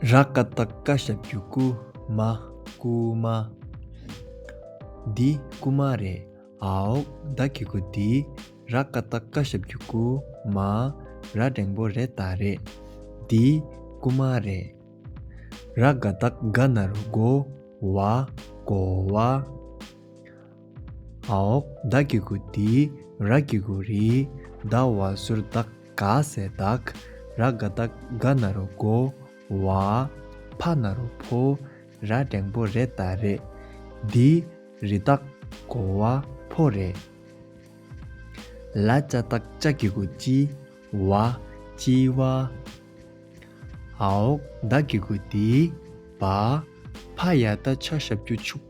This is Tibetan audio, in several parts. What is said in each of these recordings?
ར་ཀ་ད་ཀ་ཞབས་རྒྱུ་ཀུ་མ་ཀུ་མ། འདི་ཀུ་མ་རེད་ཨའོ་ད་ཀི་ཀུ་འདི་ར་ཀ་ད་ཀ་ཞབས་རྒྱུ་ཀུ་མ་ར་འགྲེང་པོ་རེད་ད་རེད་འདི་ཀུ་མ་རེད། ར་ག་ད་ཀ་ན་རུ་གོ་བ་གོ་བ། ཨཱོྃ་བདག་གི་གུ་དི་ར་གི་གུ་རི་བདག་བ་ཟུར་བདག་ག་ཟས་བདག་ར་དགའ་བདག་ག་ན་རོ་གོ་བ་ཕ་ན་རོ་ཕོ་ར་སྒྲེང་པོ་རེ་ད་རེ་དི་རི་བདག་གོ་བ་ཕོ་རེ་ལ་ཅ་བདག་ཅ་གི་གུ་ཅི་བ་ཅི་བ་ཨཱོྃ་བདག་གི་གུ་དི་བ་ཕ་ཡ་ད་ཆ་ཞབས་ཀྱུ་ཕྱུག།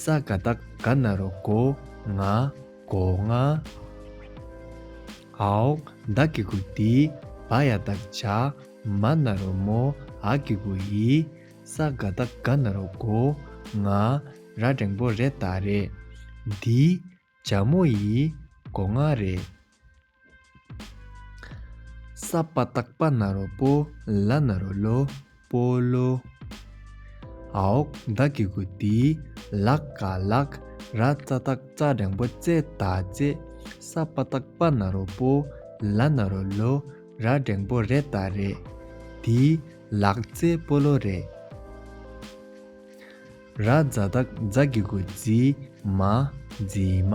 ས་ག་ཟླ་ག་ན་རུ་གོ་ང་གོ་ང། ཨའོ་ཟླ་གི་གུ་ཏི་བ་ཡ་ད་ཇ་མ་ན་རུ་མོ་ཨ་གི་གུ་ཡི། ས་ག་ཟླ་ག་ན་རུ་གོ་ང་ར་འགྲེང་པོ་རེ་ད་རེ། འདི་ཇ་མོ་ཡི་གོ་ང་རེ། ས་པ་སྟག་པ་ནཱ་རོ་པོ་ལ་ནཱ་རོ་ལོ་པོ་ལོ། ཨཱོྃ་བདག་གི་གུ་དེའི་ལག་ག་ལག་ར་རྩ་སྟག་རྩ་འགྲེང་པོ་རྩེ་ད་རྩེ། ས་པ་སྟག་པ་ནཱ་རོ་པོ་ལ་ནཱ་རོ་ལོ་ར་འགྲེང་པོ་རེ་ད་རེ། དེའི་ལག་རྩེ་པོ་ལོ་རེ། ར་རྫ་སྟག་རྫ་གི་གུ་རྫི་མ་རྫི་མ།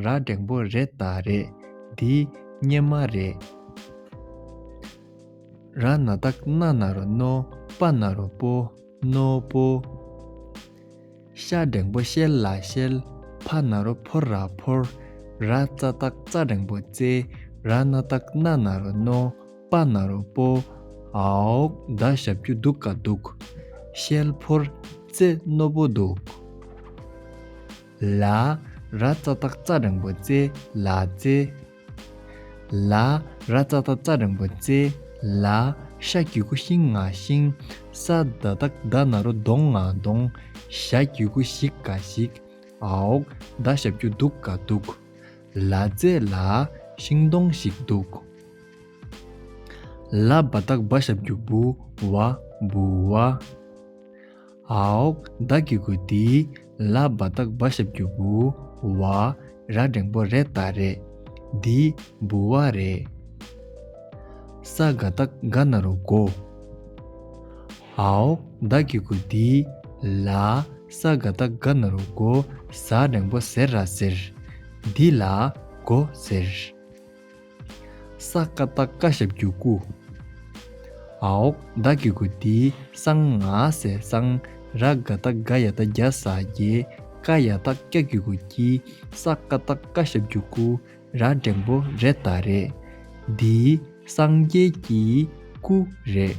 ར་འགྲེང་པོ་རེད་ད་རེད་འདི་སྙེ་མ་རེད། ར་ན་ད་ན་ན་རོ་ནོ་པ་ན་རོ་པོ་ནོ་པོ། ཤ་འགྲེང་པོ་ཤེལ་ལ་ཤེལ་ཕ་ན་རོ་ཕོར་ར་ཕོར། ར་རྩ་ད་རྩ་འགྲེང་པོ་རྩེ་ར་ན་ད་ན་ན་རོ་ནོ་པ་ན་རོ་པོ། ཨོག་ད་ཞབས་ཀྱུ་འདུག་ག་འདུག་ཤེལ་ཕོར་རྩེ་རྣོ་པོ་འདུག། ལ། ར་རྩ་སྟག་རྩ་རིང་པོ་རྩེ་ལ་རྩེ། ལ། ར་རྩ་སྟག་རྩ་རིང་པོ་རྩེ་ལ། ཤ་རྒྱུད་ཁུ་ཤིང་ང་ཤིང། ས་བདག་བདག་བདག་ན་རོ་གདོང་ང་གདོང། ཞྭ་རྒྱུད་ཁུ་བཞིག་ག་ཞིག། ཨའོ། བདག་ཞྭ་རྒྱུད་གདུག་ག་གདུག། ལ་རྩེ་ལ། ཤིང་སྡོང་ཞིག་གདུག། ལ་བ་བདག་བ་ཞྭ་རྒྱུད་བུ་བ་བུ་བ། ཧཱུྃ། བདག་གི་གུ་དེའི་ལ་བ་བདག་བ་ཞབས་ཀྱི་བུ། བ་ར་འགྲེང་པོ་རེ་ད་རེ། འདི་འབུ་བ་རེ། ས་ག་ད་ག་ན་རུ་གོ། ཧཱུྃ། བདག་གི་གུ་དེའི་ལ་ས་ག་ད་ག་ན་རུ་གོ་ཟ་འགྲེང་པོ་ཟེར་ར་ཟེར། འདི་ལ་གོ་ཟེར། ས་ཀ་རྟ་བཀའ་ཞབས་རྒྱུད་སྐུ། ཨཱོྃ་བདག་གི་སྐུ་འདི་གསང་སྔགས་ཟས་གཙང་ར་ག་རྟ་ག་ཡ་རྟ་བརྒྱ་ཟ་རྒྱལ་ཀ་ཡ་རྟ་སྐྱ་རྒྱུད་སྐུ་སྐྱི་ས་ཀ་རྟ་བཀའ་ཞབས་རྒྱུད་སྐུ་ར་འགྲེང་པོ་རེ་ད་རེ། འདི་སངས་རྒྱས་ཀྱི་སྐུ་རེད།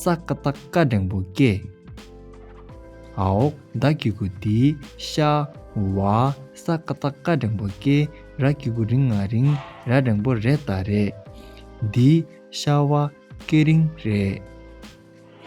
ས་ཀ་རྟ་བཀའ་སྒྲེང་བུ་སྐྱེས། ཨའོ་ད་ཀྱི་གུ་དི་ཤ་བ་ས་ཀ་རྟ་བཀའ་སྒྲེང་བུ་སྐྱེས་ར་ཀྱི་གུ་རིང་ང་རིང་ར་སྒྲེང་བུ་རེད་ད་རེད། འདི་ཤ་བ་སྐྱེས་རིང་རེད།